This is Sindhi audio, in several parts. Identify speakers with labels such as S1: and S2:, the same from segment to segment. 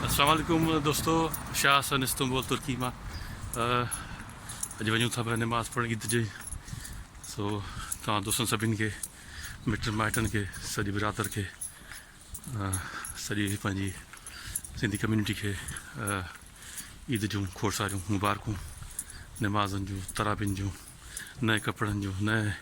S1: السلام عليڪم دوستو شاهه حسن استنبول ترڪي مان اڄ وڃون ٿا پيا نماز پڙھڻ عيد جي سو تمام دوستن سڀين کي مٽن مائٽن کي سڄي برادر کي سڄي پنهنجي سنڌي کي کي عيد جون کور ساريون مبارڪون نمازن جون ترابين جون نئے کپڙن جون نئے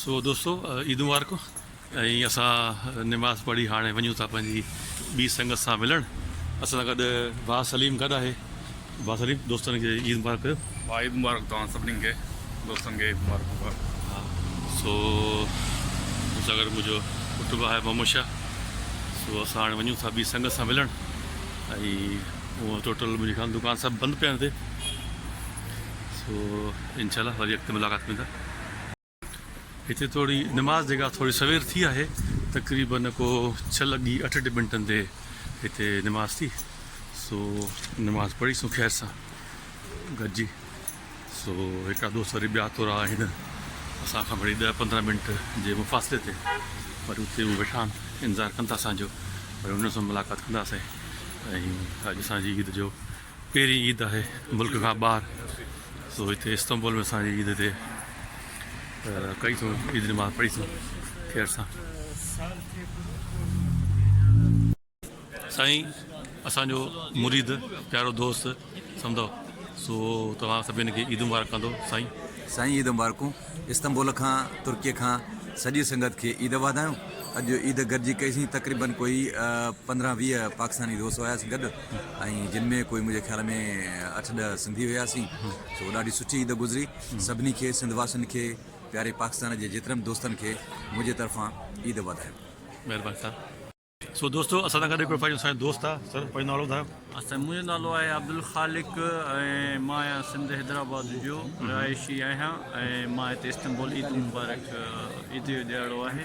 S1: سو دوستو عيد مبارڪون ۽ اسان نماز پڙهي هاڻي وڃون ٿا پنهنجي ٻي سنگت سان ملڻ اسان سان گڏ ڀاء سليم گڏ آهي ڀاء سليم دوستن کي عيد مبارڪ ڪيو ڀاء عيد مبارڪ توهان
S2: سڀني کي دوستن کي عيد مبارڪ ڀاء ها
S1: سو مون سان گڏ منهنجو پٽ به آهي محمد شاهه سو اسان هاڻي وڃون ٿا ٻي سنگت سان ملڻ ۽ ٽوٽل منهنجي خيال دڪان سڀ بند پيا آهن هتي سو انشاء الله وري اڳتي ملاقات ڪيون ٿا هتي توڙي نماز جيڪا ٿوري سوير ٿي آهي تقريبا ڪو ڇهه لڳي اٺ منٽن تي هتي نماز ٿي سو نماز پڙهي سون خير سان گڏجي سو هڪڙا دوست وري ٻيا تورا آهن اسان کان وري ڏه پندرهن منٽ جي مفاصلي تي وري اتي هو ويٺا آهن انتظار ڪن ٿا اسانجو وري انهن سان ملاقات ڪنداسين ۽ اڄ اسانجي عيد جو پهرين عيد آهي ملڪ کان ٻاهر سو هتي استنبول ۾ اسان جي عيد تي ڪئي ٿو عيد نماز پڙهي ٿو خير سان سائين اسان جو مريد پيارو دوست سمجھو سو توهان سڀني کي عيد مبارڪ ڪندو سائين سائين عيد مبارڪون
S3: استنبول کان ترڪي کان سڄي سنگت کي عيد واڌايون اڄ عيد گڏجي ڪئيسين تقريبن ڪوئي پندرهن ويهه پاڪستاني دوست هياسين گڏ ۽ جن ۾ ڪوئي منهنجي خيال ۾ اٺ ڏهه سنڌي هياسين سو ڏاڍي سٺي عيد گذري سڀني کي سنڌ واسين کي پياري پاڪستان جي جيترن به دوستن کي منهنجي طرفان عيد واڌايون. مهرباني سر.
S1: سو دوستو اسان سان گڏ هڪڙو پنهنجو سائين دوست آ سر پنهنجو نالو ٻڌايو. سائين منهنجو نالو آهي
S4: عبدالخالق ۽ مان آهيان سنڌ حيدرآباد جو رهائشي آهيان ۽ مان هتي استنبول عيد مبارڪ عيد جو ڏهاڙو آهي.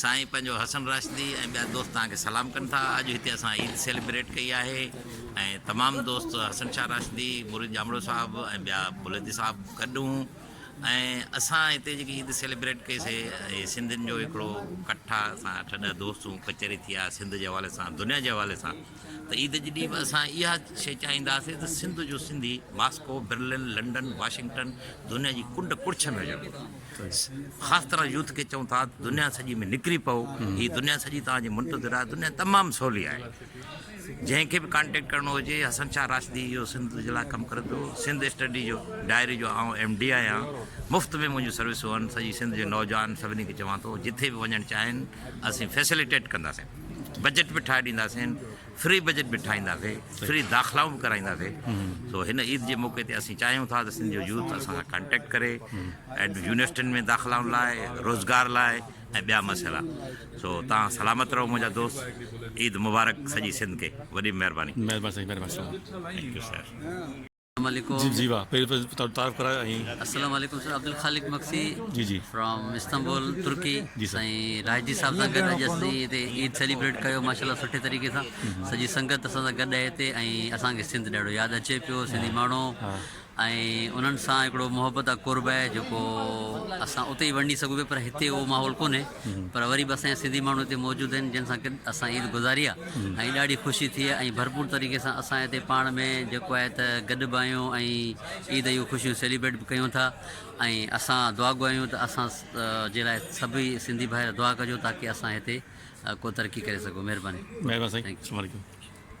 S5: سائين پنهنجو حسن راشدي ۽ ٻيا دوست توهان کي سلام ڪن ٿا اڄ هتي اسان عيد سيليبريٽ ڪئي آهي ۽ تمام دوست حسن شاهه راشدي مريد ڄامڙو صاحب ۽ ٻيا بلوچي صاحب گڏ هون ۽ اسان هتي جيڪي عيد سيليبريٽ ڪئي سي سنڌين جو هڪڙو ڪٺ آهي اسان اٺ ڏهه دوست هون ڪچهري ٿي آهي سنڌ جي حوالي سان دنيا جي حوالي سان ته عيد جي ڏينهن به اسان اها شي چاهينداسي ته سنڌ جو Sindhi Moscow Berlin London Washington دنيا جي ڪنڊ ڪڙڇ ۾ هجڻ گهرجي خاص طرح يوٿ کي چئون ٿا ته دنيا سڄي ۾ نڪري پئو هي دنيا سڄي توهان جي منتظر آهي دنيا تمام سولي آهي جنهن کي به ڪانٽيڪٽ ڪرڻو هجي حسن شاهه راشدي اهو سنڌ جي لاء ڪم ڪري ٿو سنڌ اسٽڊي جو ڊائري جو آئون ايم ڊي آهيان مفت ۾ منهنجون سروسون آهن سڄي سنڌ جي نوجوان سڀني کي چوان ٿو جتي به وڃڻ چاهين اسين فيسليٽيٽ ڪنداسين بجيٽ به ٺاهي ڏينداسين فري بجيٽ به ٺاهينداسي، فري داخلائون به ڪرائينداسي، سو هن عيد جي موقعي تي اسين چاهيون ٿا ته سنڌ جو يوٿ اسان سان ڪانٽيڪٽ ڪري ۽ يونيورسٽين ۾ داخلائن لاء، روزگار لاء ۽ ٻيا مسئلا، سو توهان سلامت رهو منهنجا دوست، عيد مبارڪ سڄي
S1: سنڌ
S5: کي، وڏي مهرباني. مهرباني
S1: سائين
S5: مهرباني سائين. Thank you sir. جي
S6: جي واھ پهرين
S1: پهرين تهان جو تعارف ڪرايو ۽. السلام عليڪم سر عبدالخالق
S6: مگسي جي جي فرام
S1: استنبول
S6: ترڪي جي سر سائين
S1: رائجي صاحب سان
S6: گڏ اڄ اسين هتي عيد سيليبريٽ ڪيو ماشاءالله سٺي طريقي سان سڄي سنگت اسان سان گڏ آهي هتي ۽ اسان کي سنڌ ڏاڍو ياد اچي پيو سنڌي ماڻهو ۽ انهن سان هڪڙو محبت آ قرب آهي جيڪو اسان اتي ئي ورنڊي سگهون پيا پر هتي اهو ماحول ڪونهي پر وري به اسان جا سنڌي ماڻهو هتي موجود آهن جن سان گڏ اسان عيد گذاري آهي ۽ ڏاڍي خوشي ٿي آهي ۽ ڀرپور طريقي سان اسان هتي پاڻ ۾ جيڪو آهي ته گڏ به آهيون ۽ عيد جون خوشيون سيليبريٽ به ڪيون ٿا ۽ اسان دعا گو آهيون ته اسان جي لاء سڀئي سنڌي ڀائر دعا ڪجو تاڪي
S1: اسان
S6: هتي ڪو ترقي ڪري سگهون
S1: مهرباني
S6: مهرباني سائين
S1: السلام
S6: عليڪم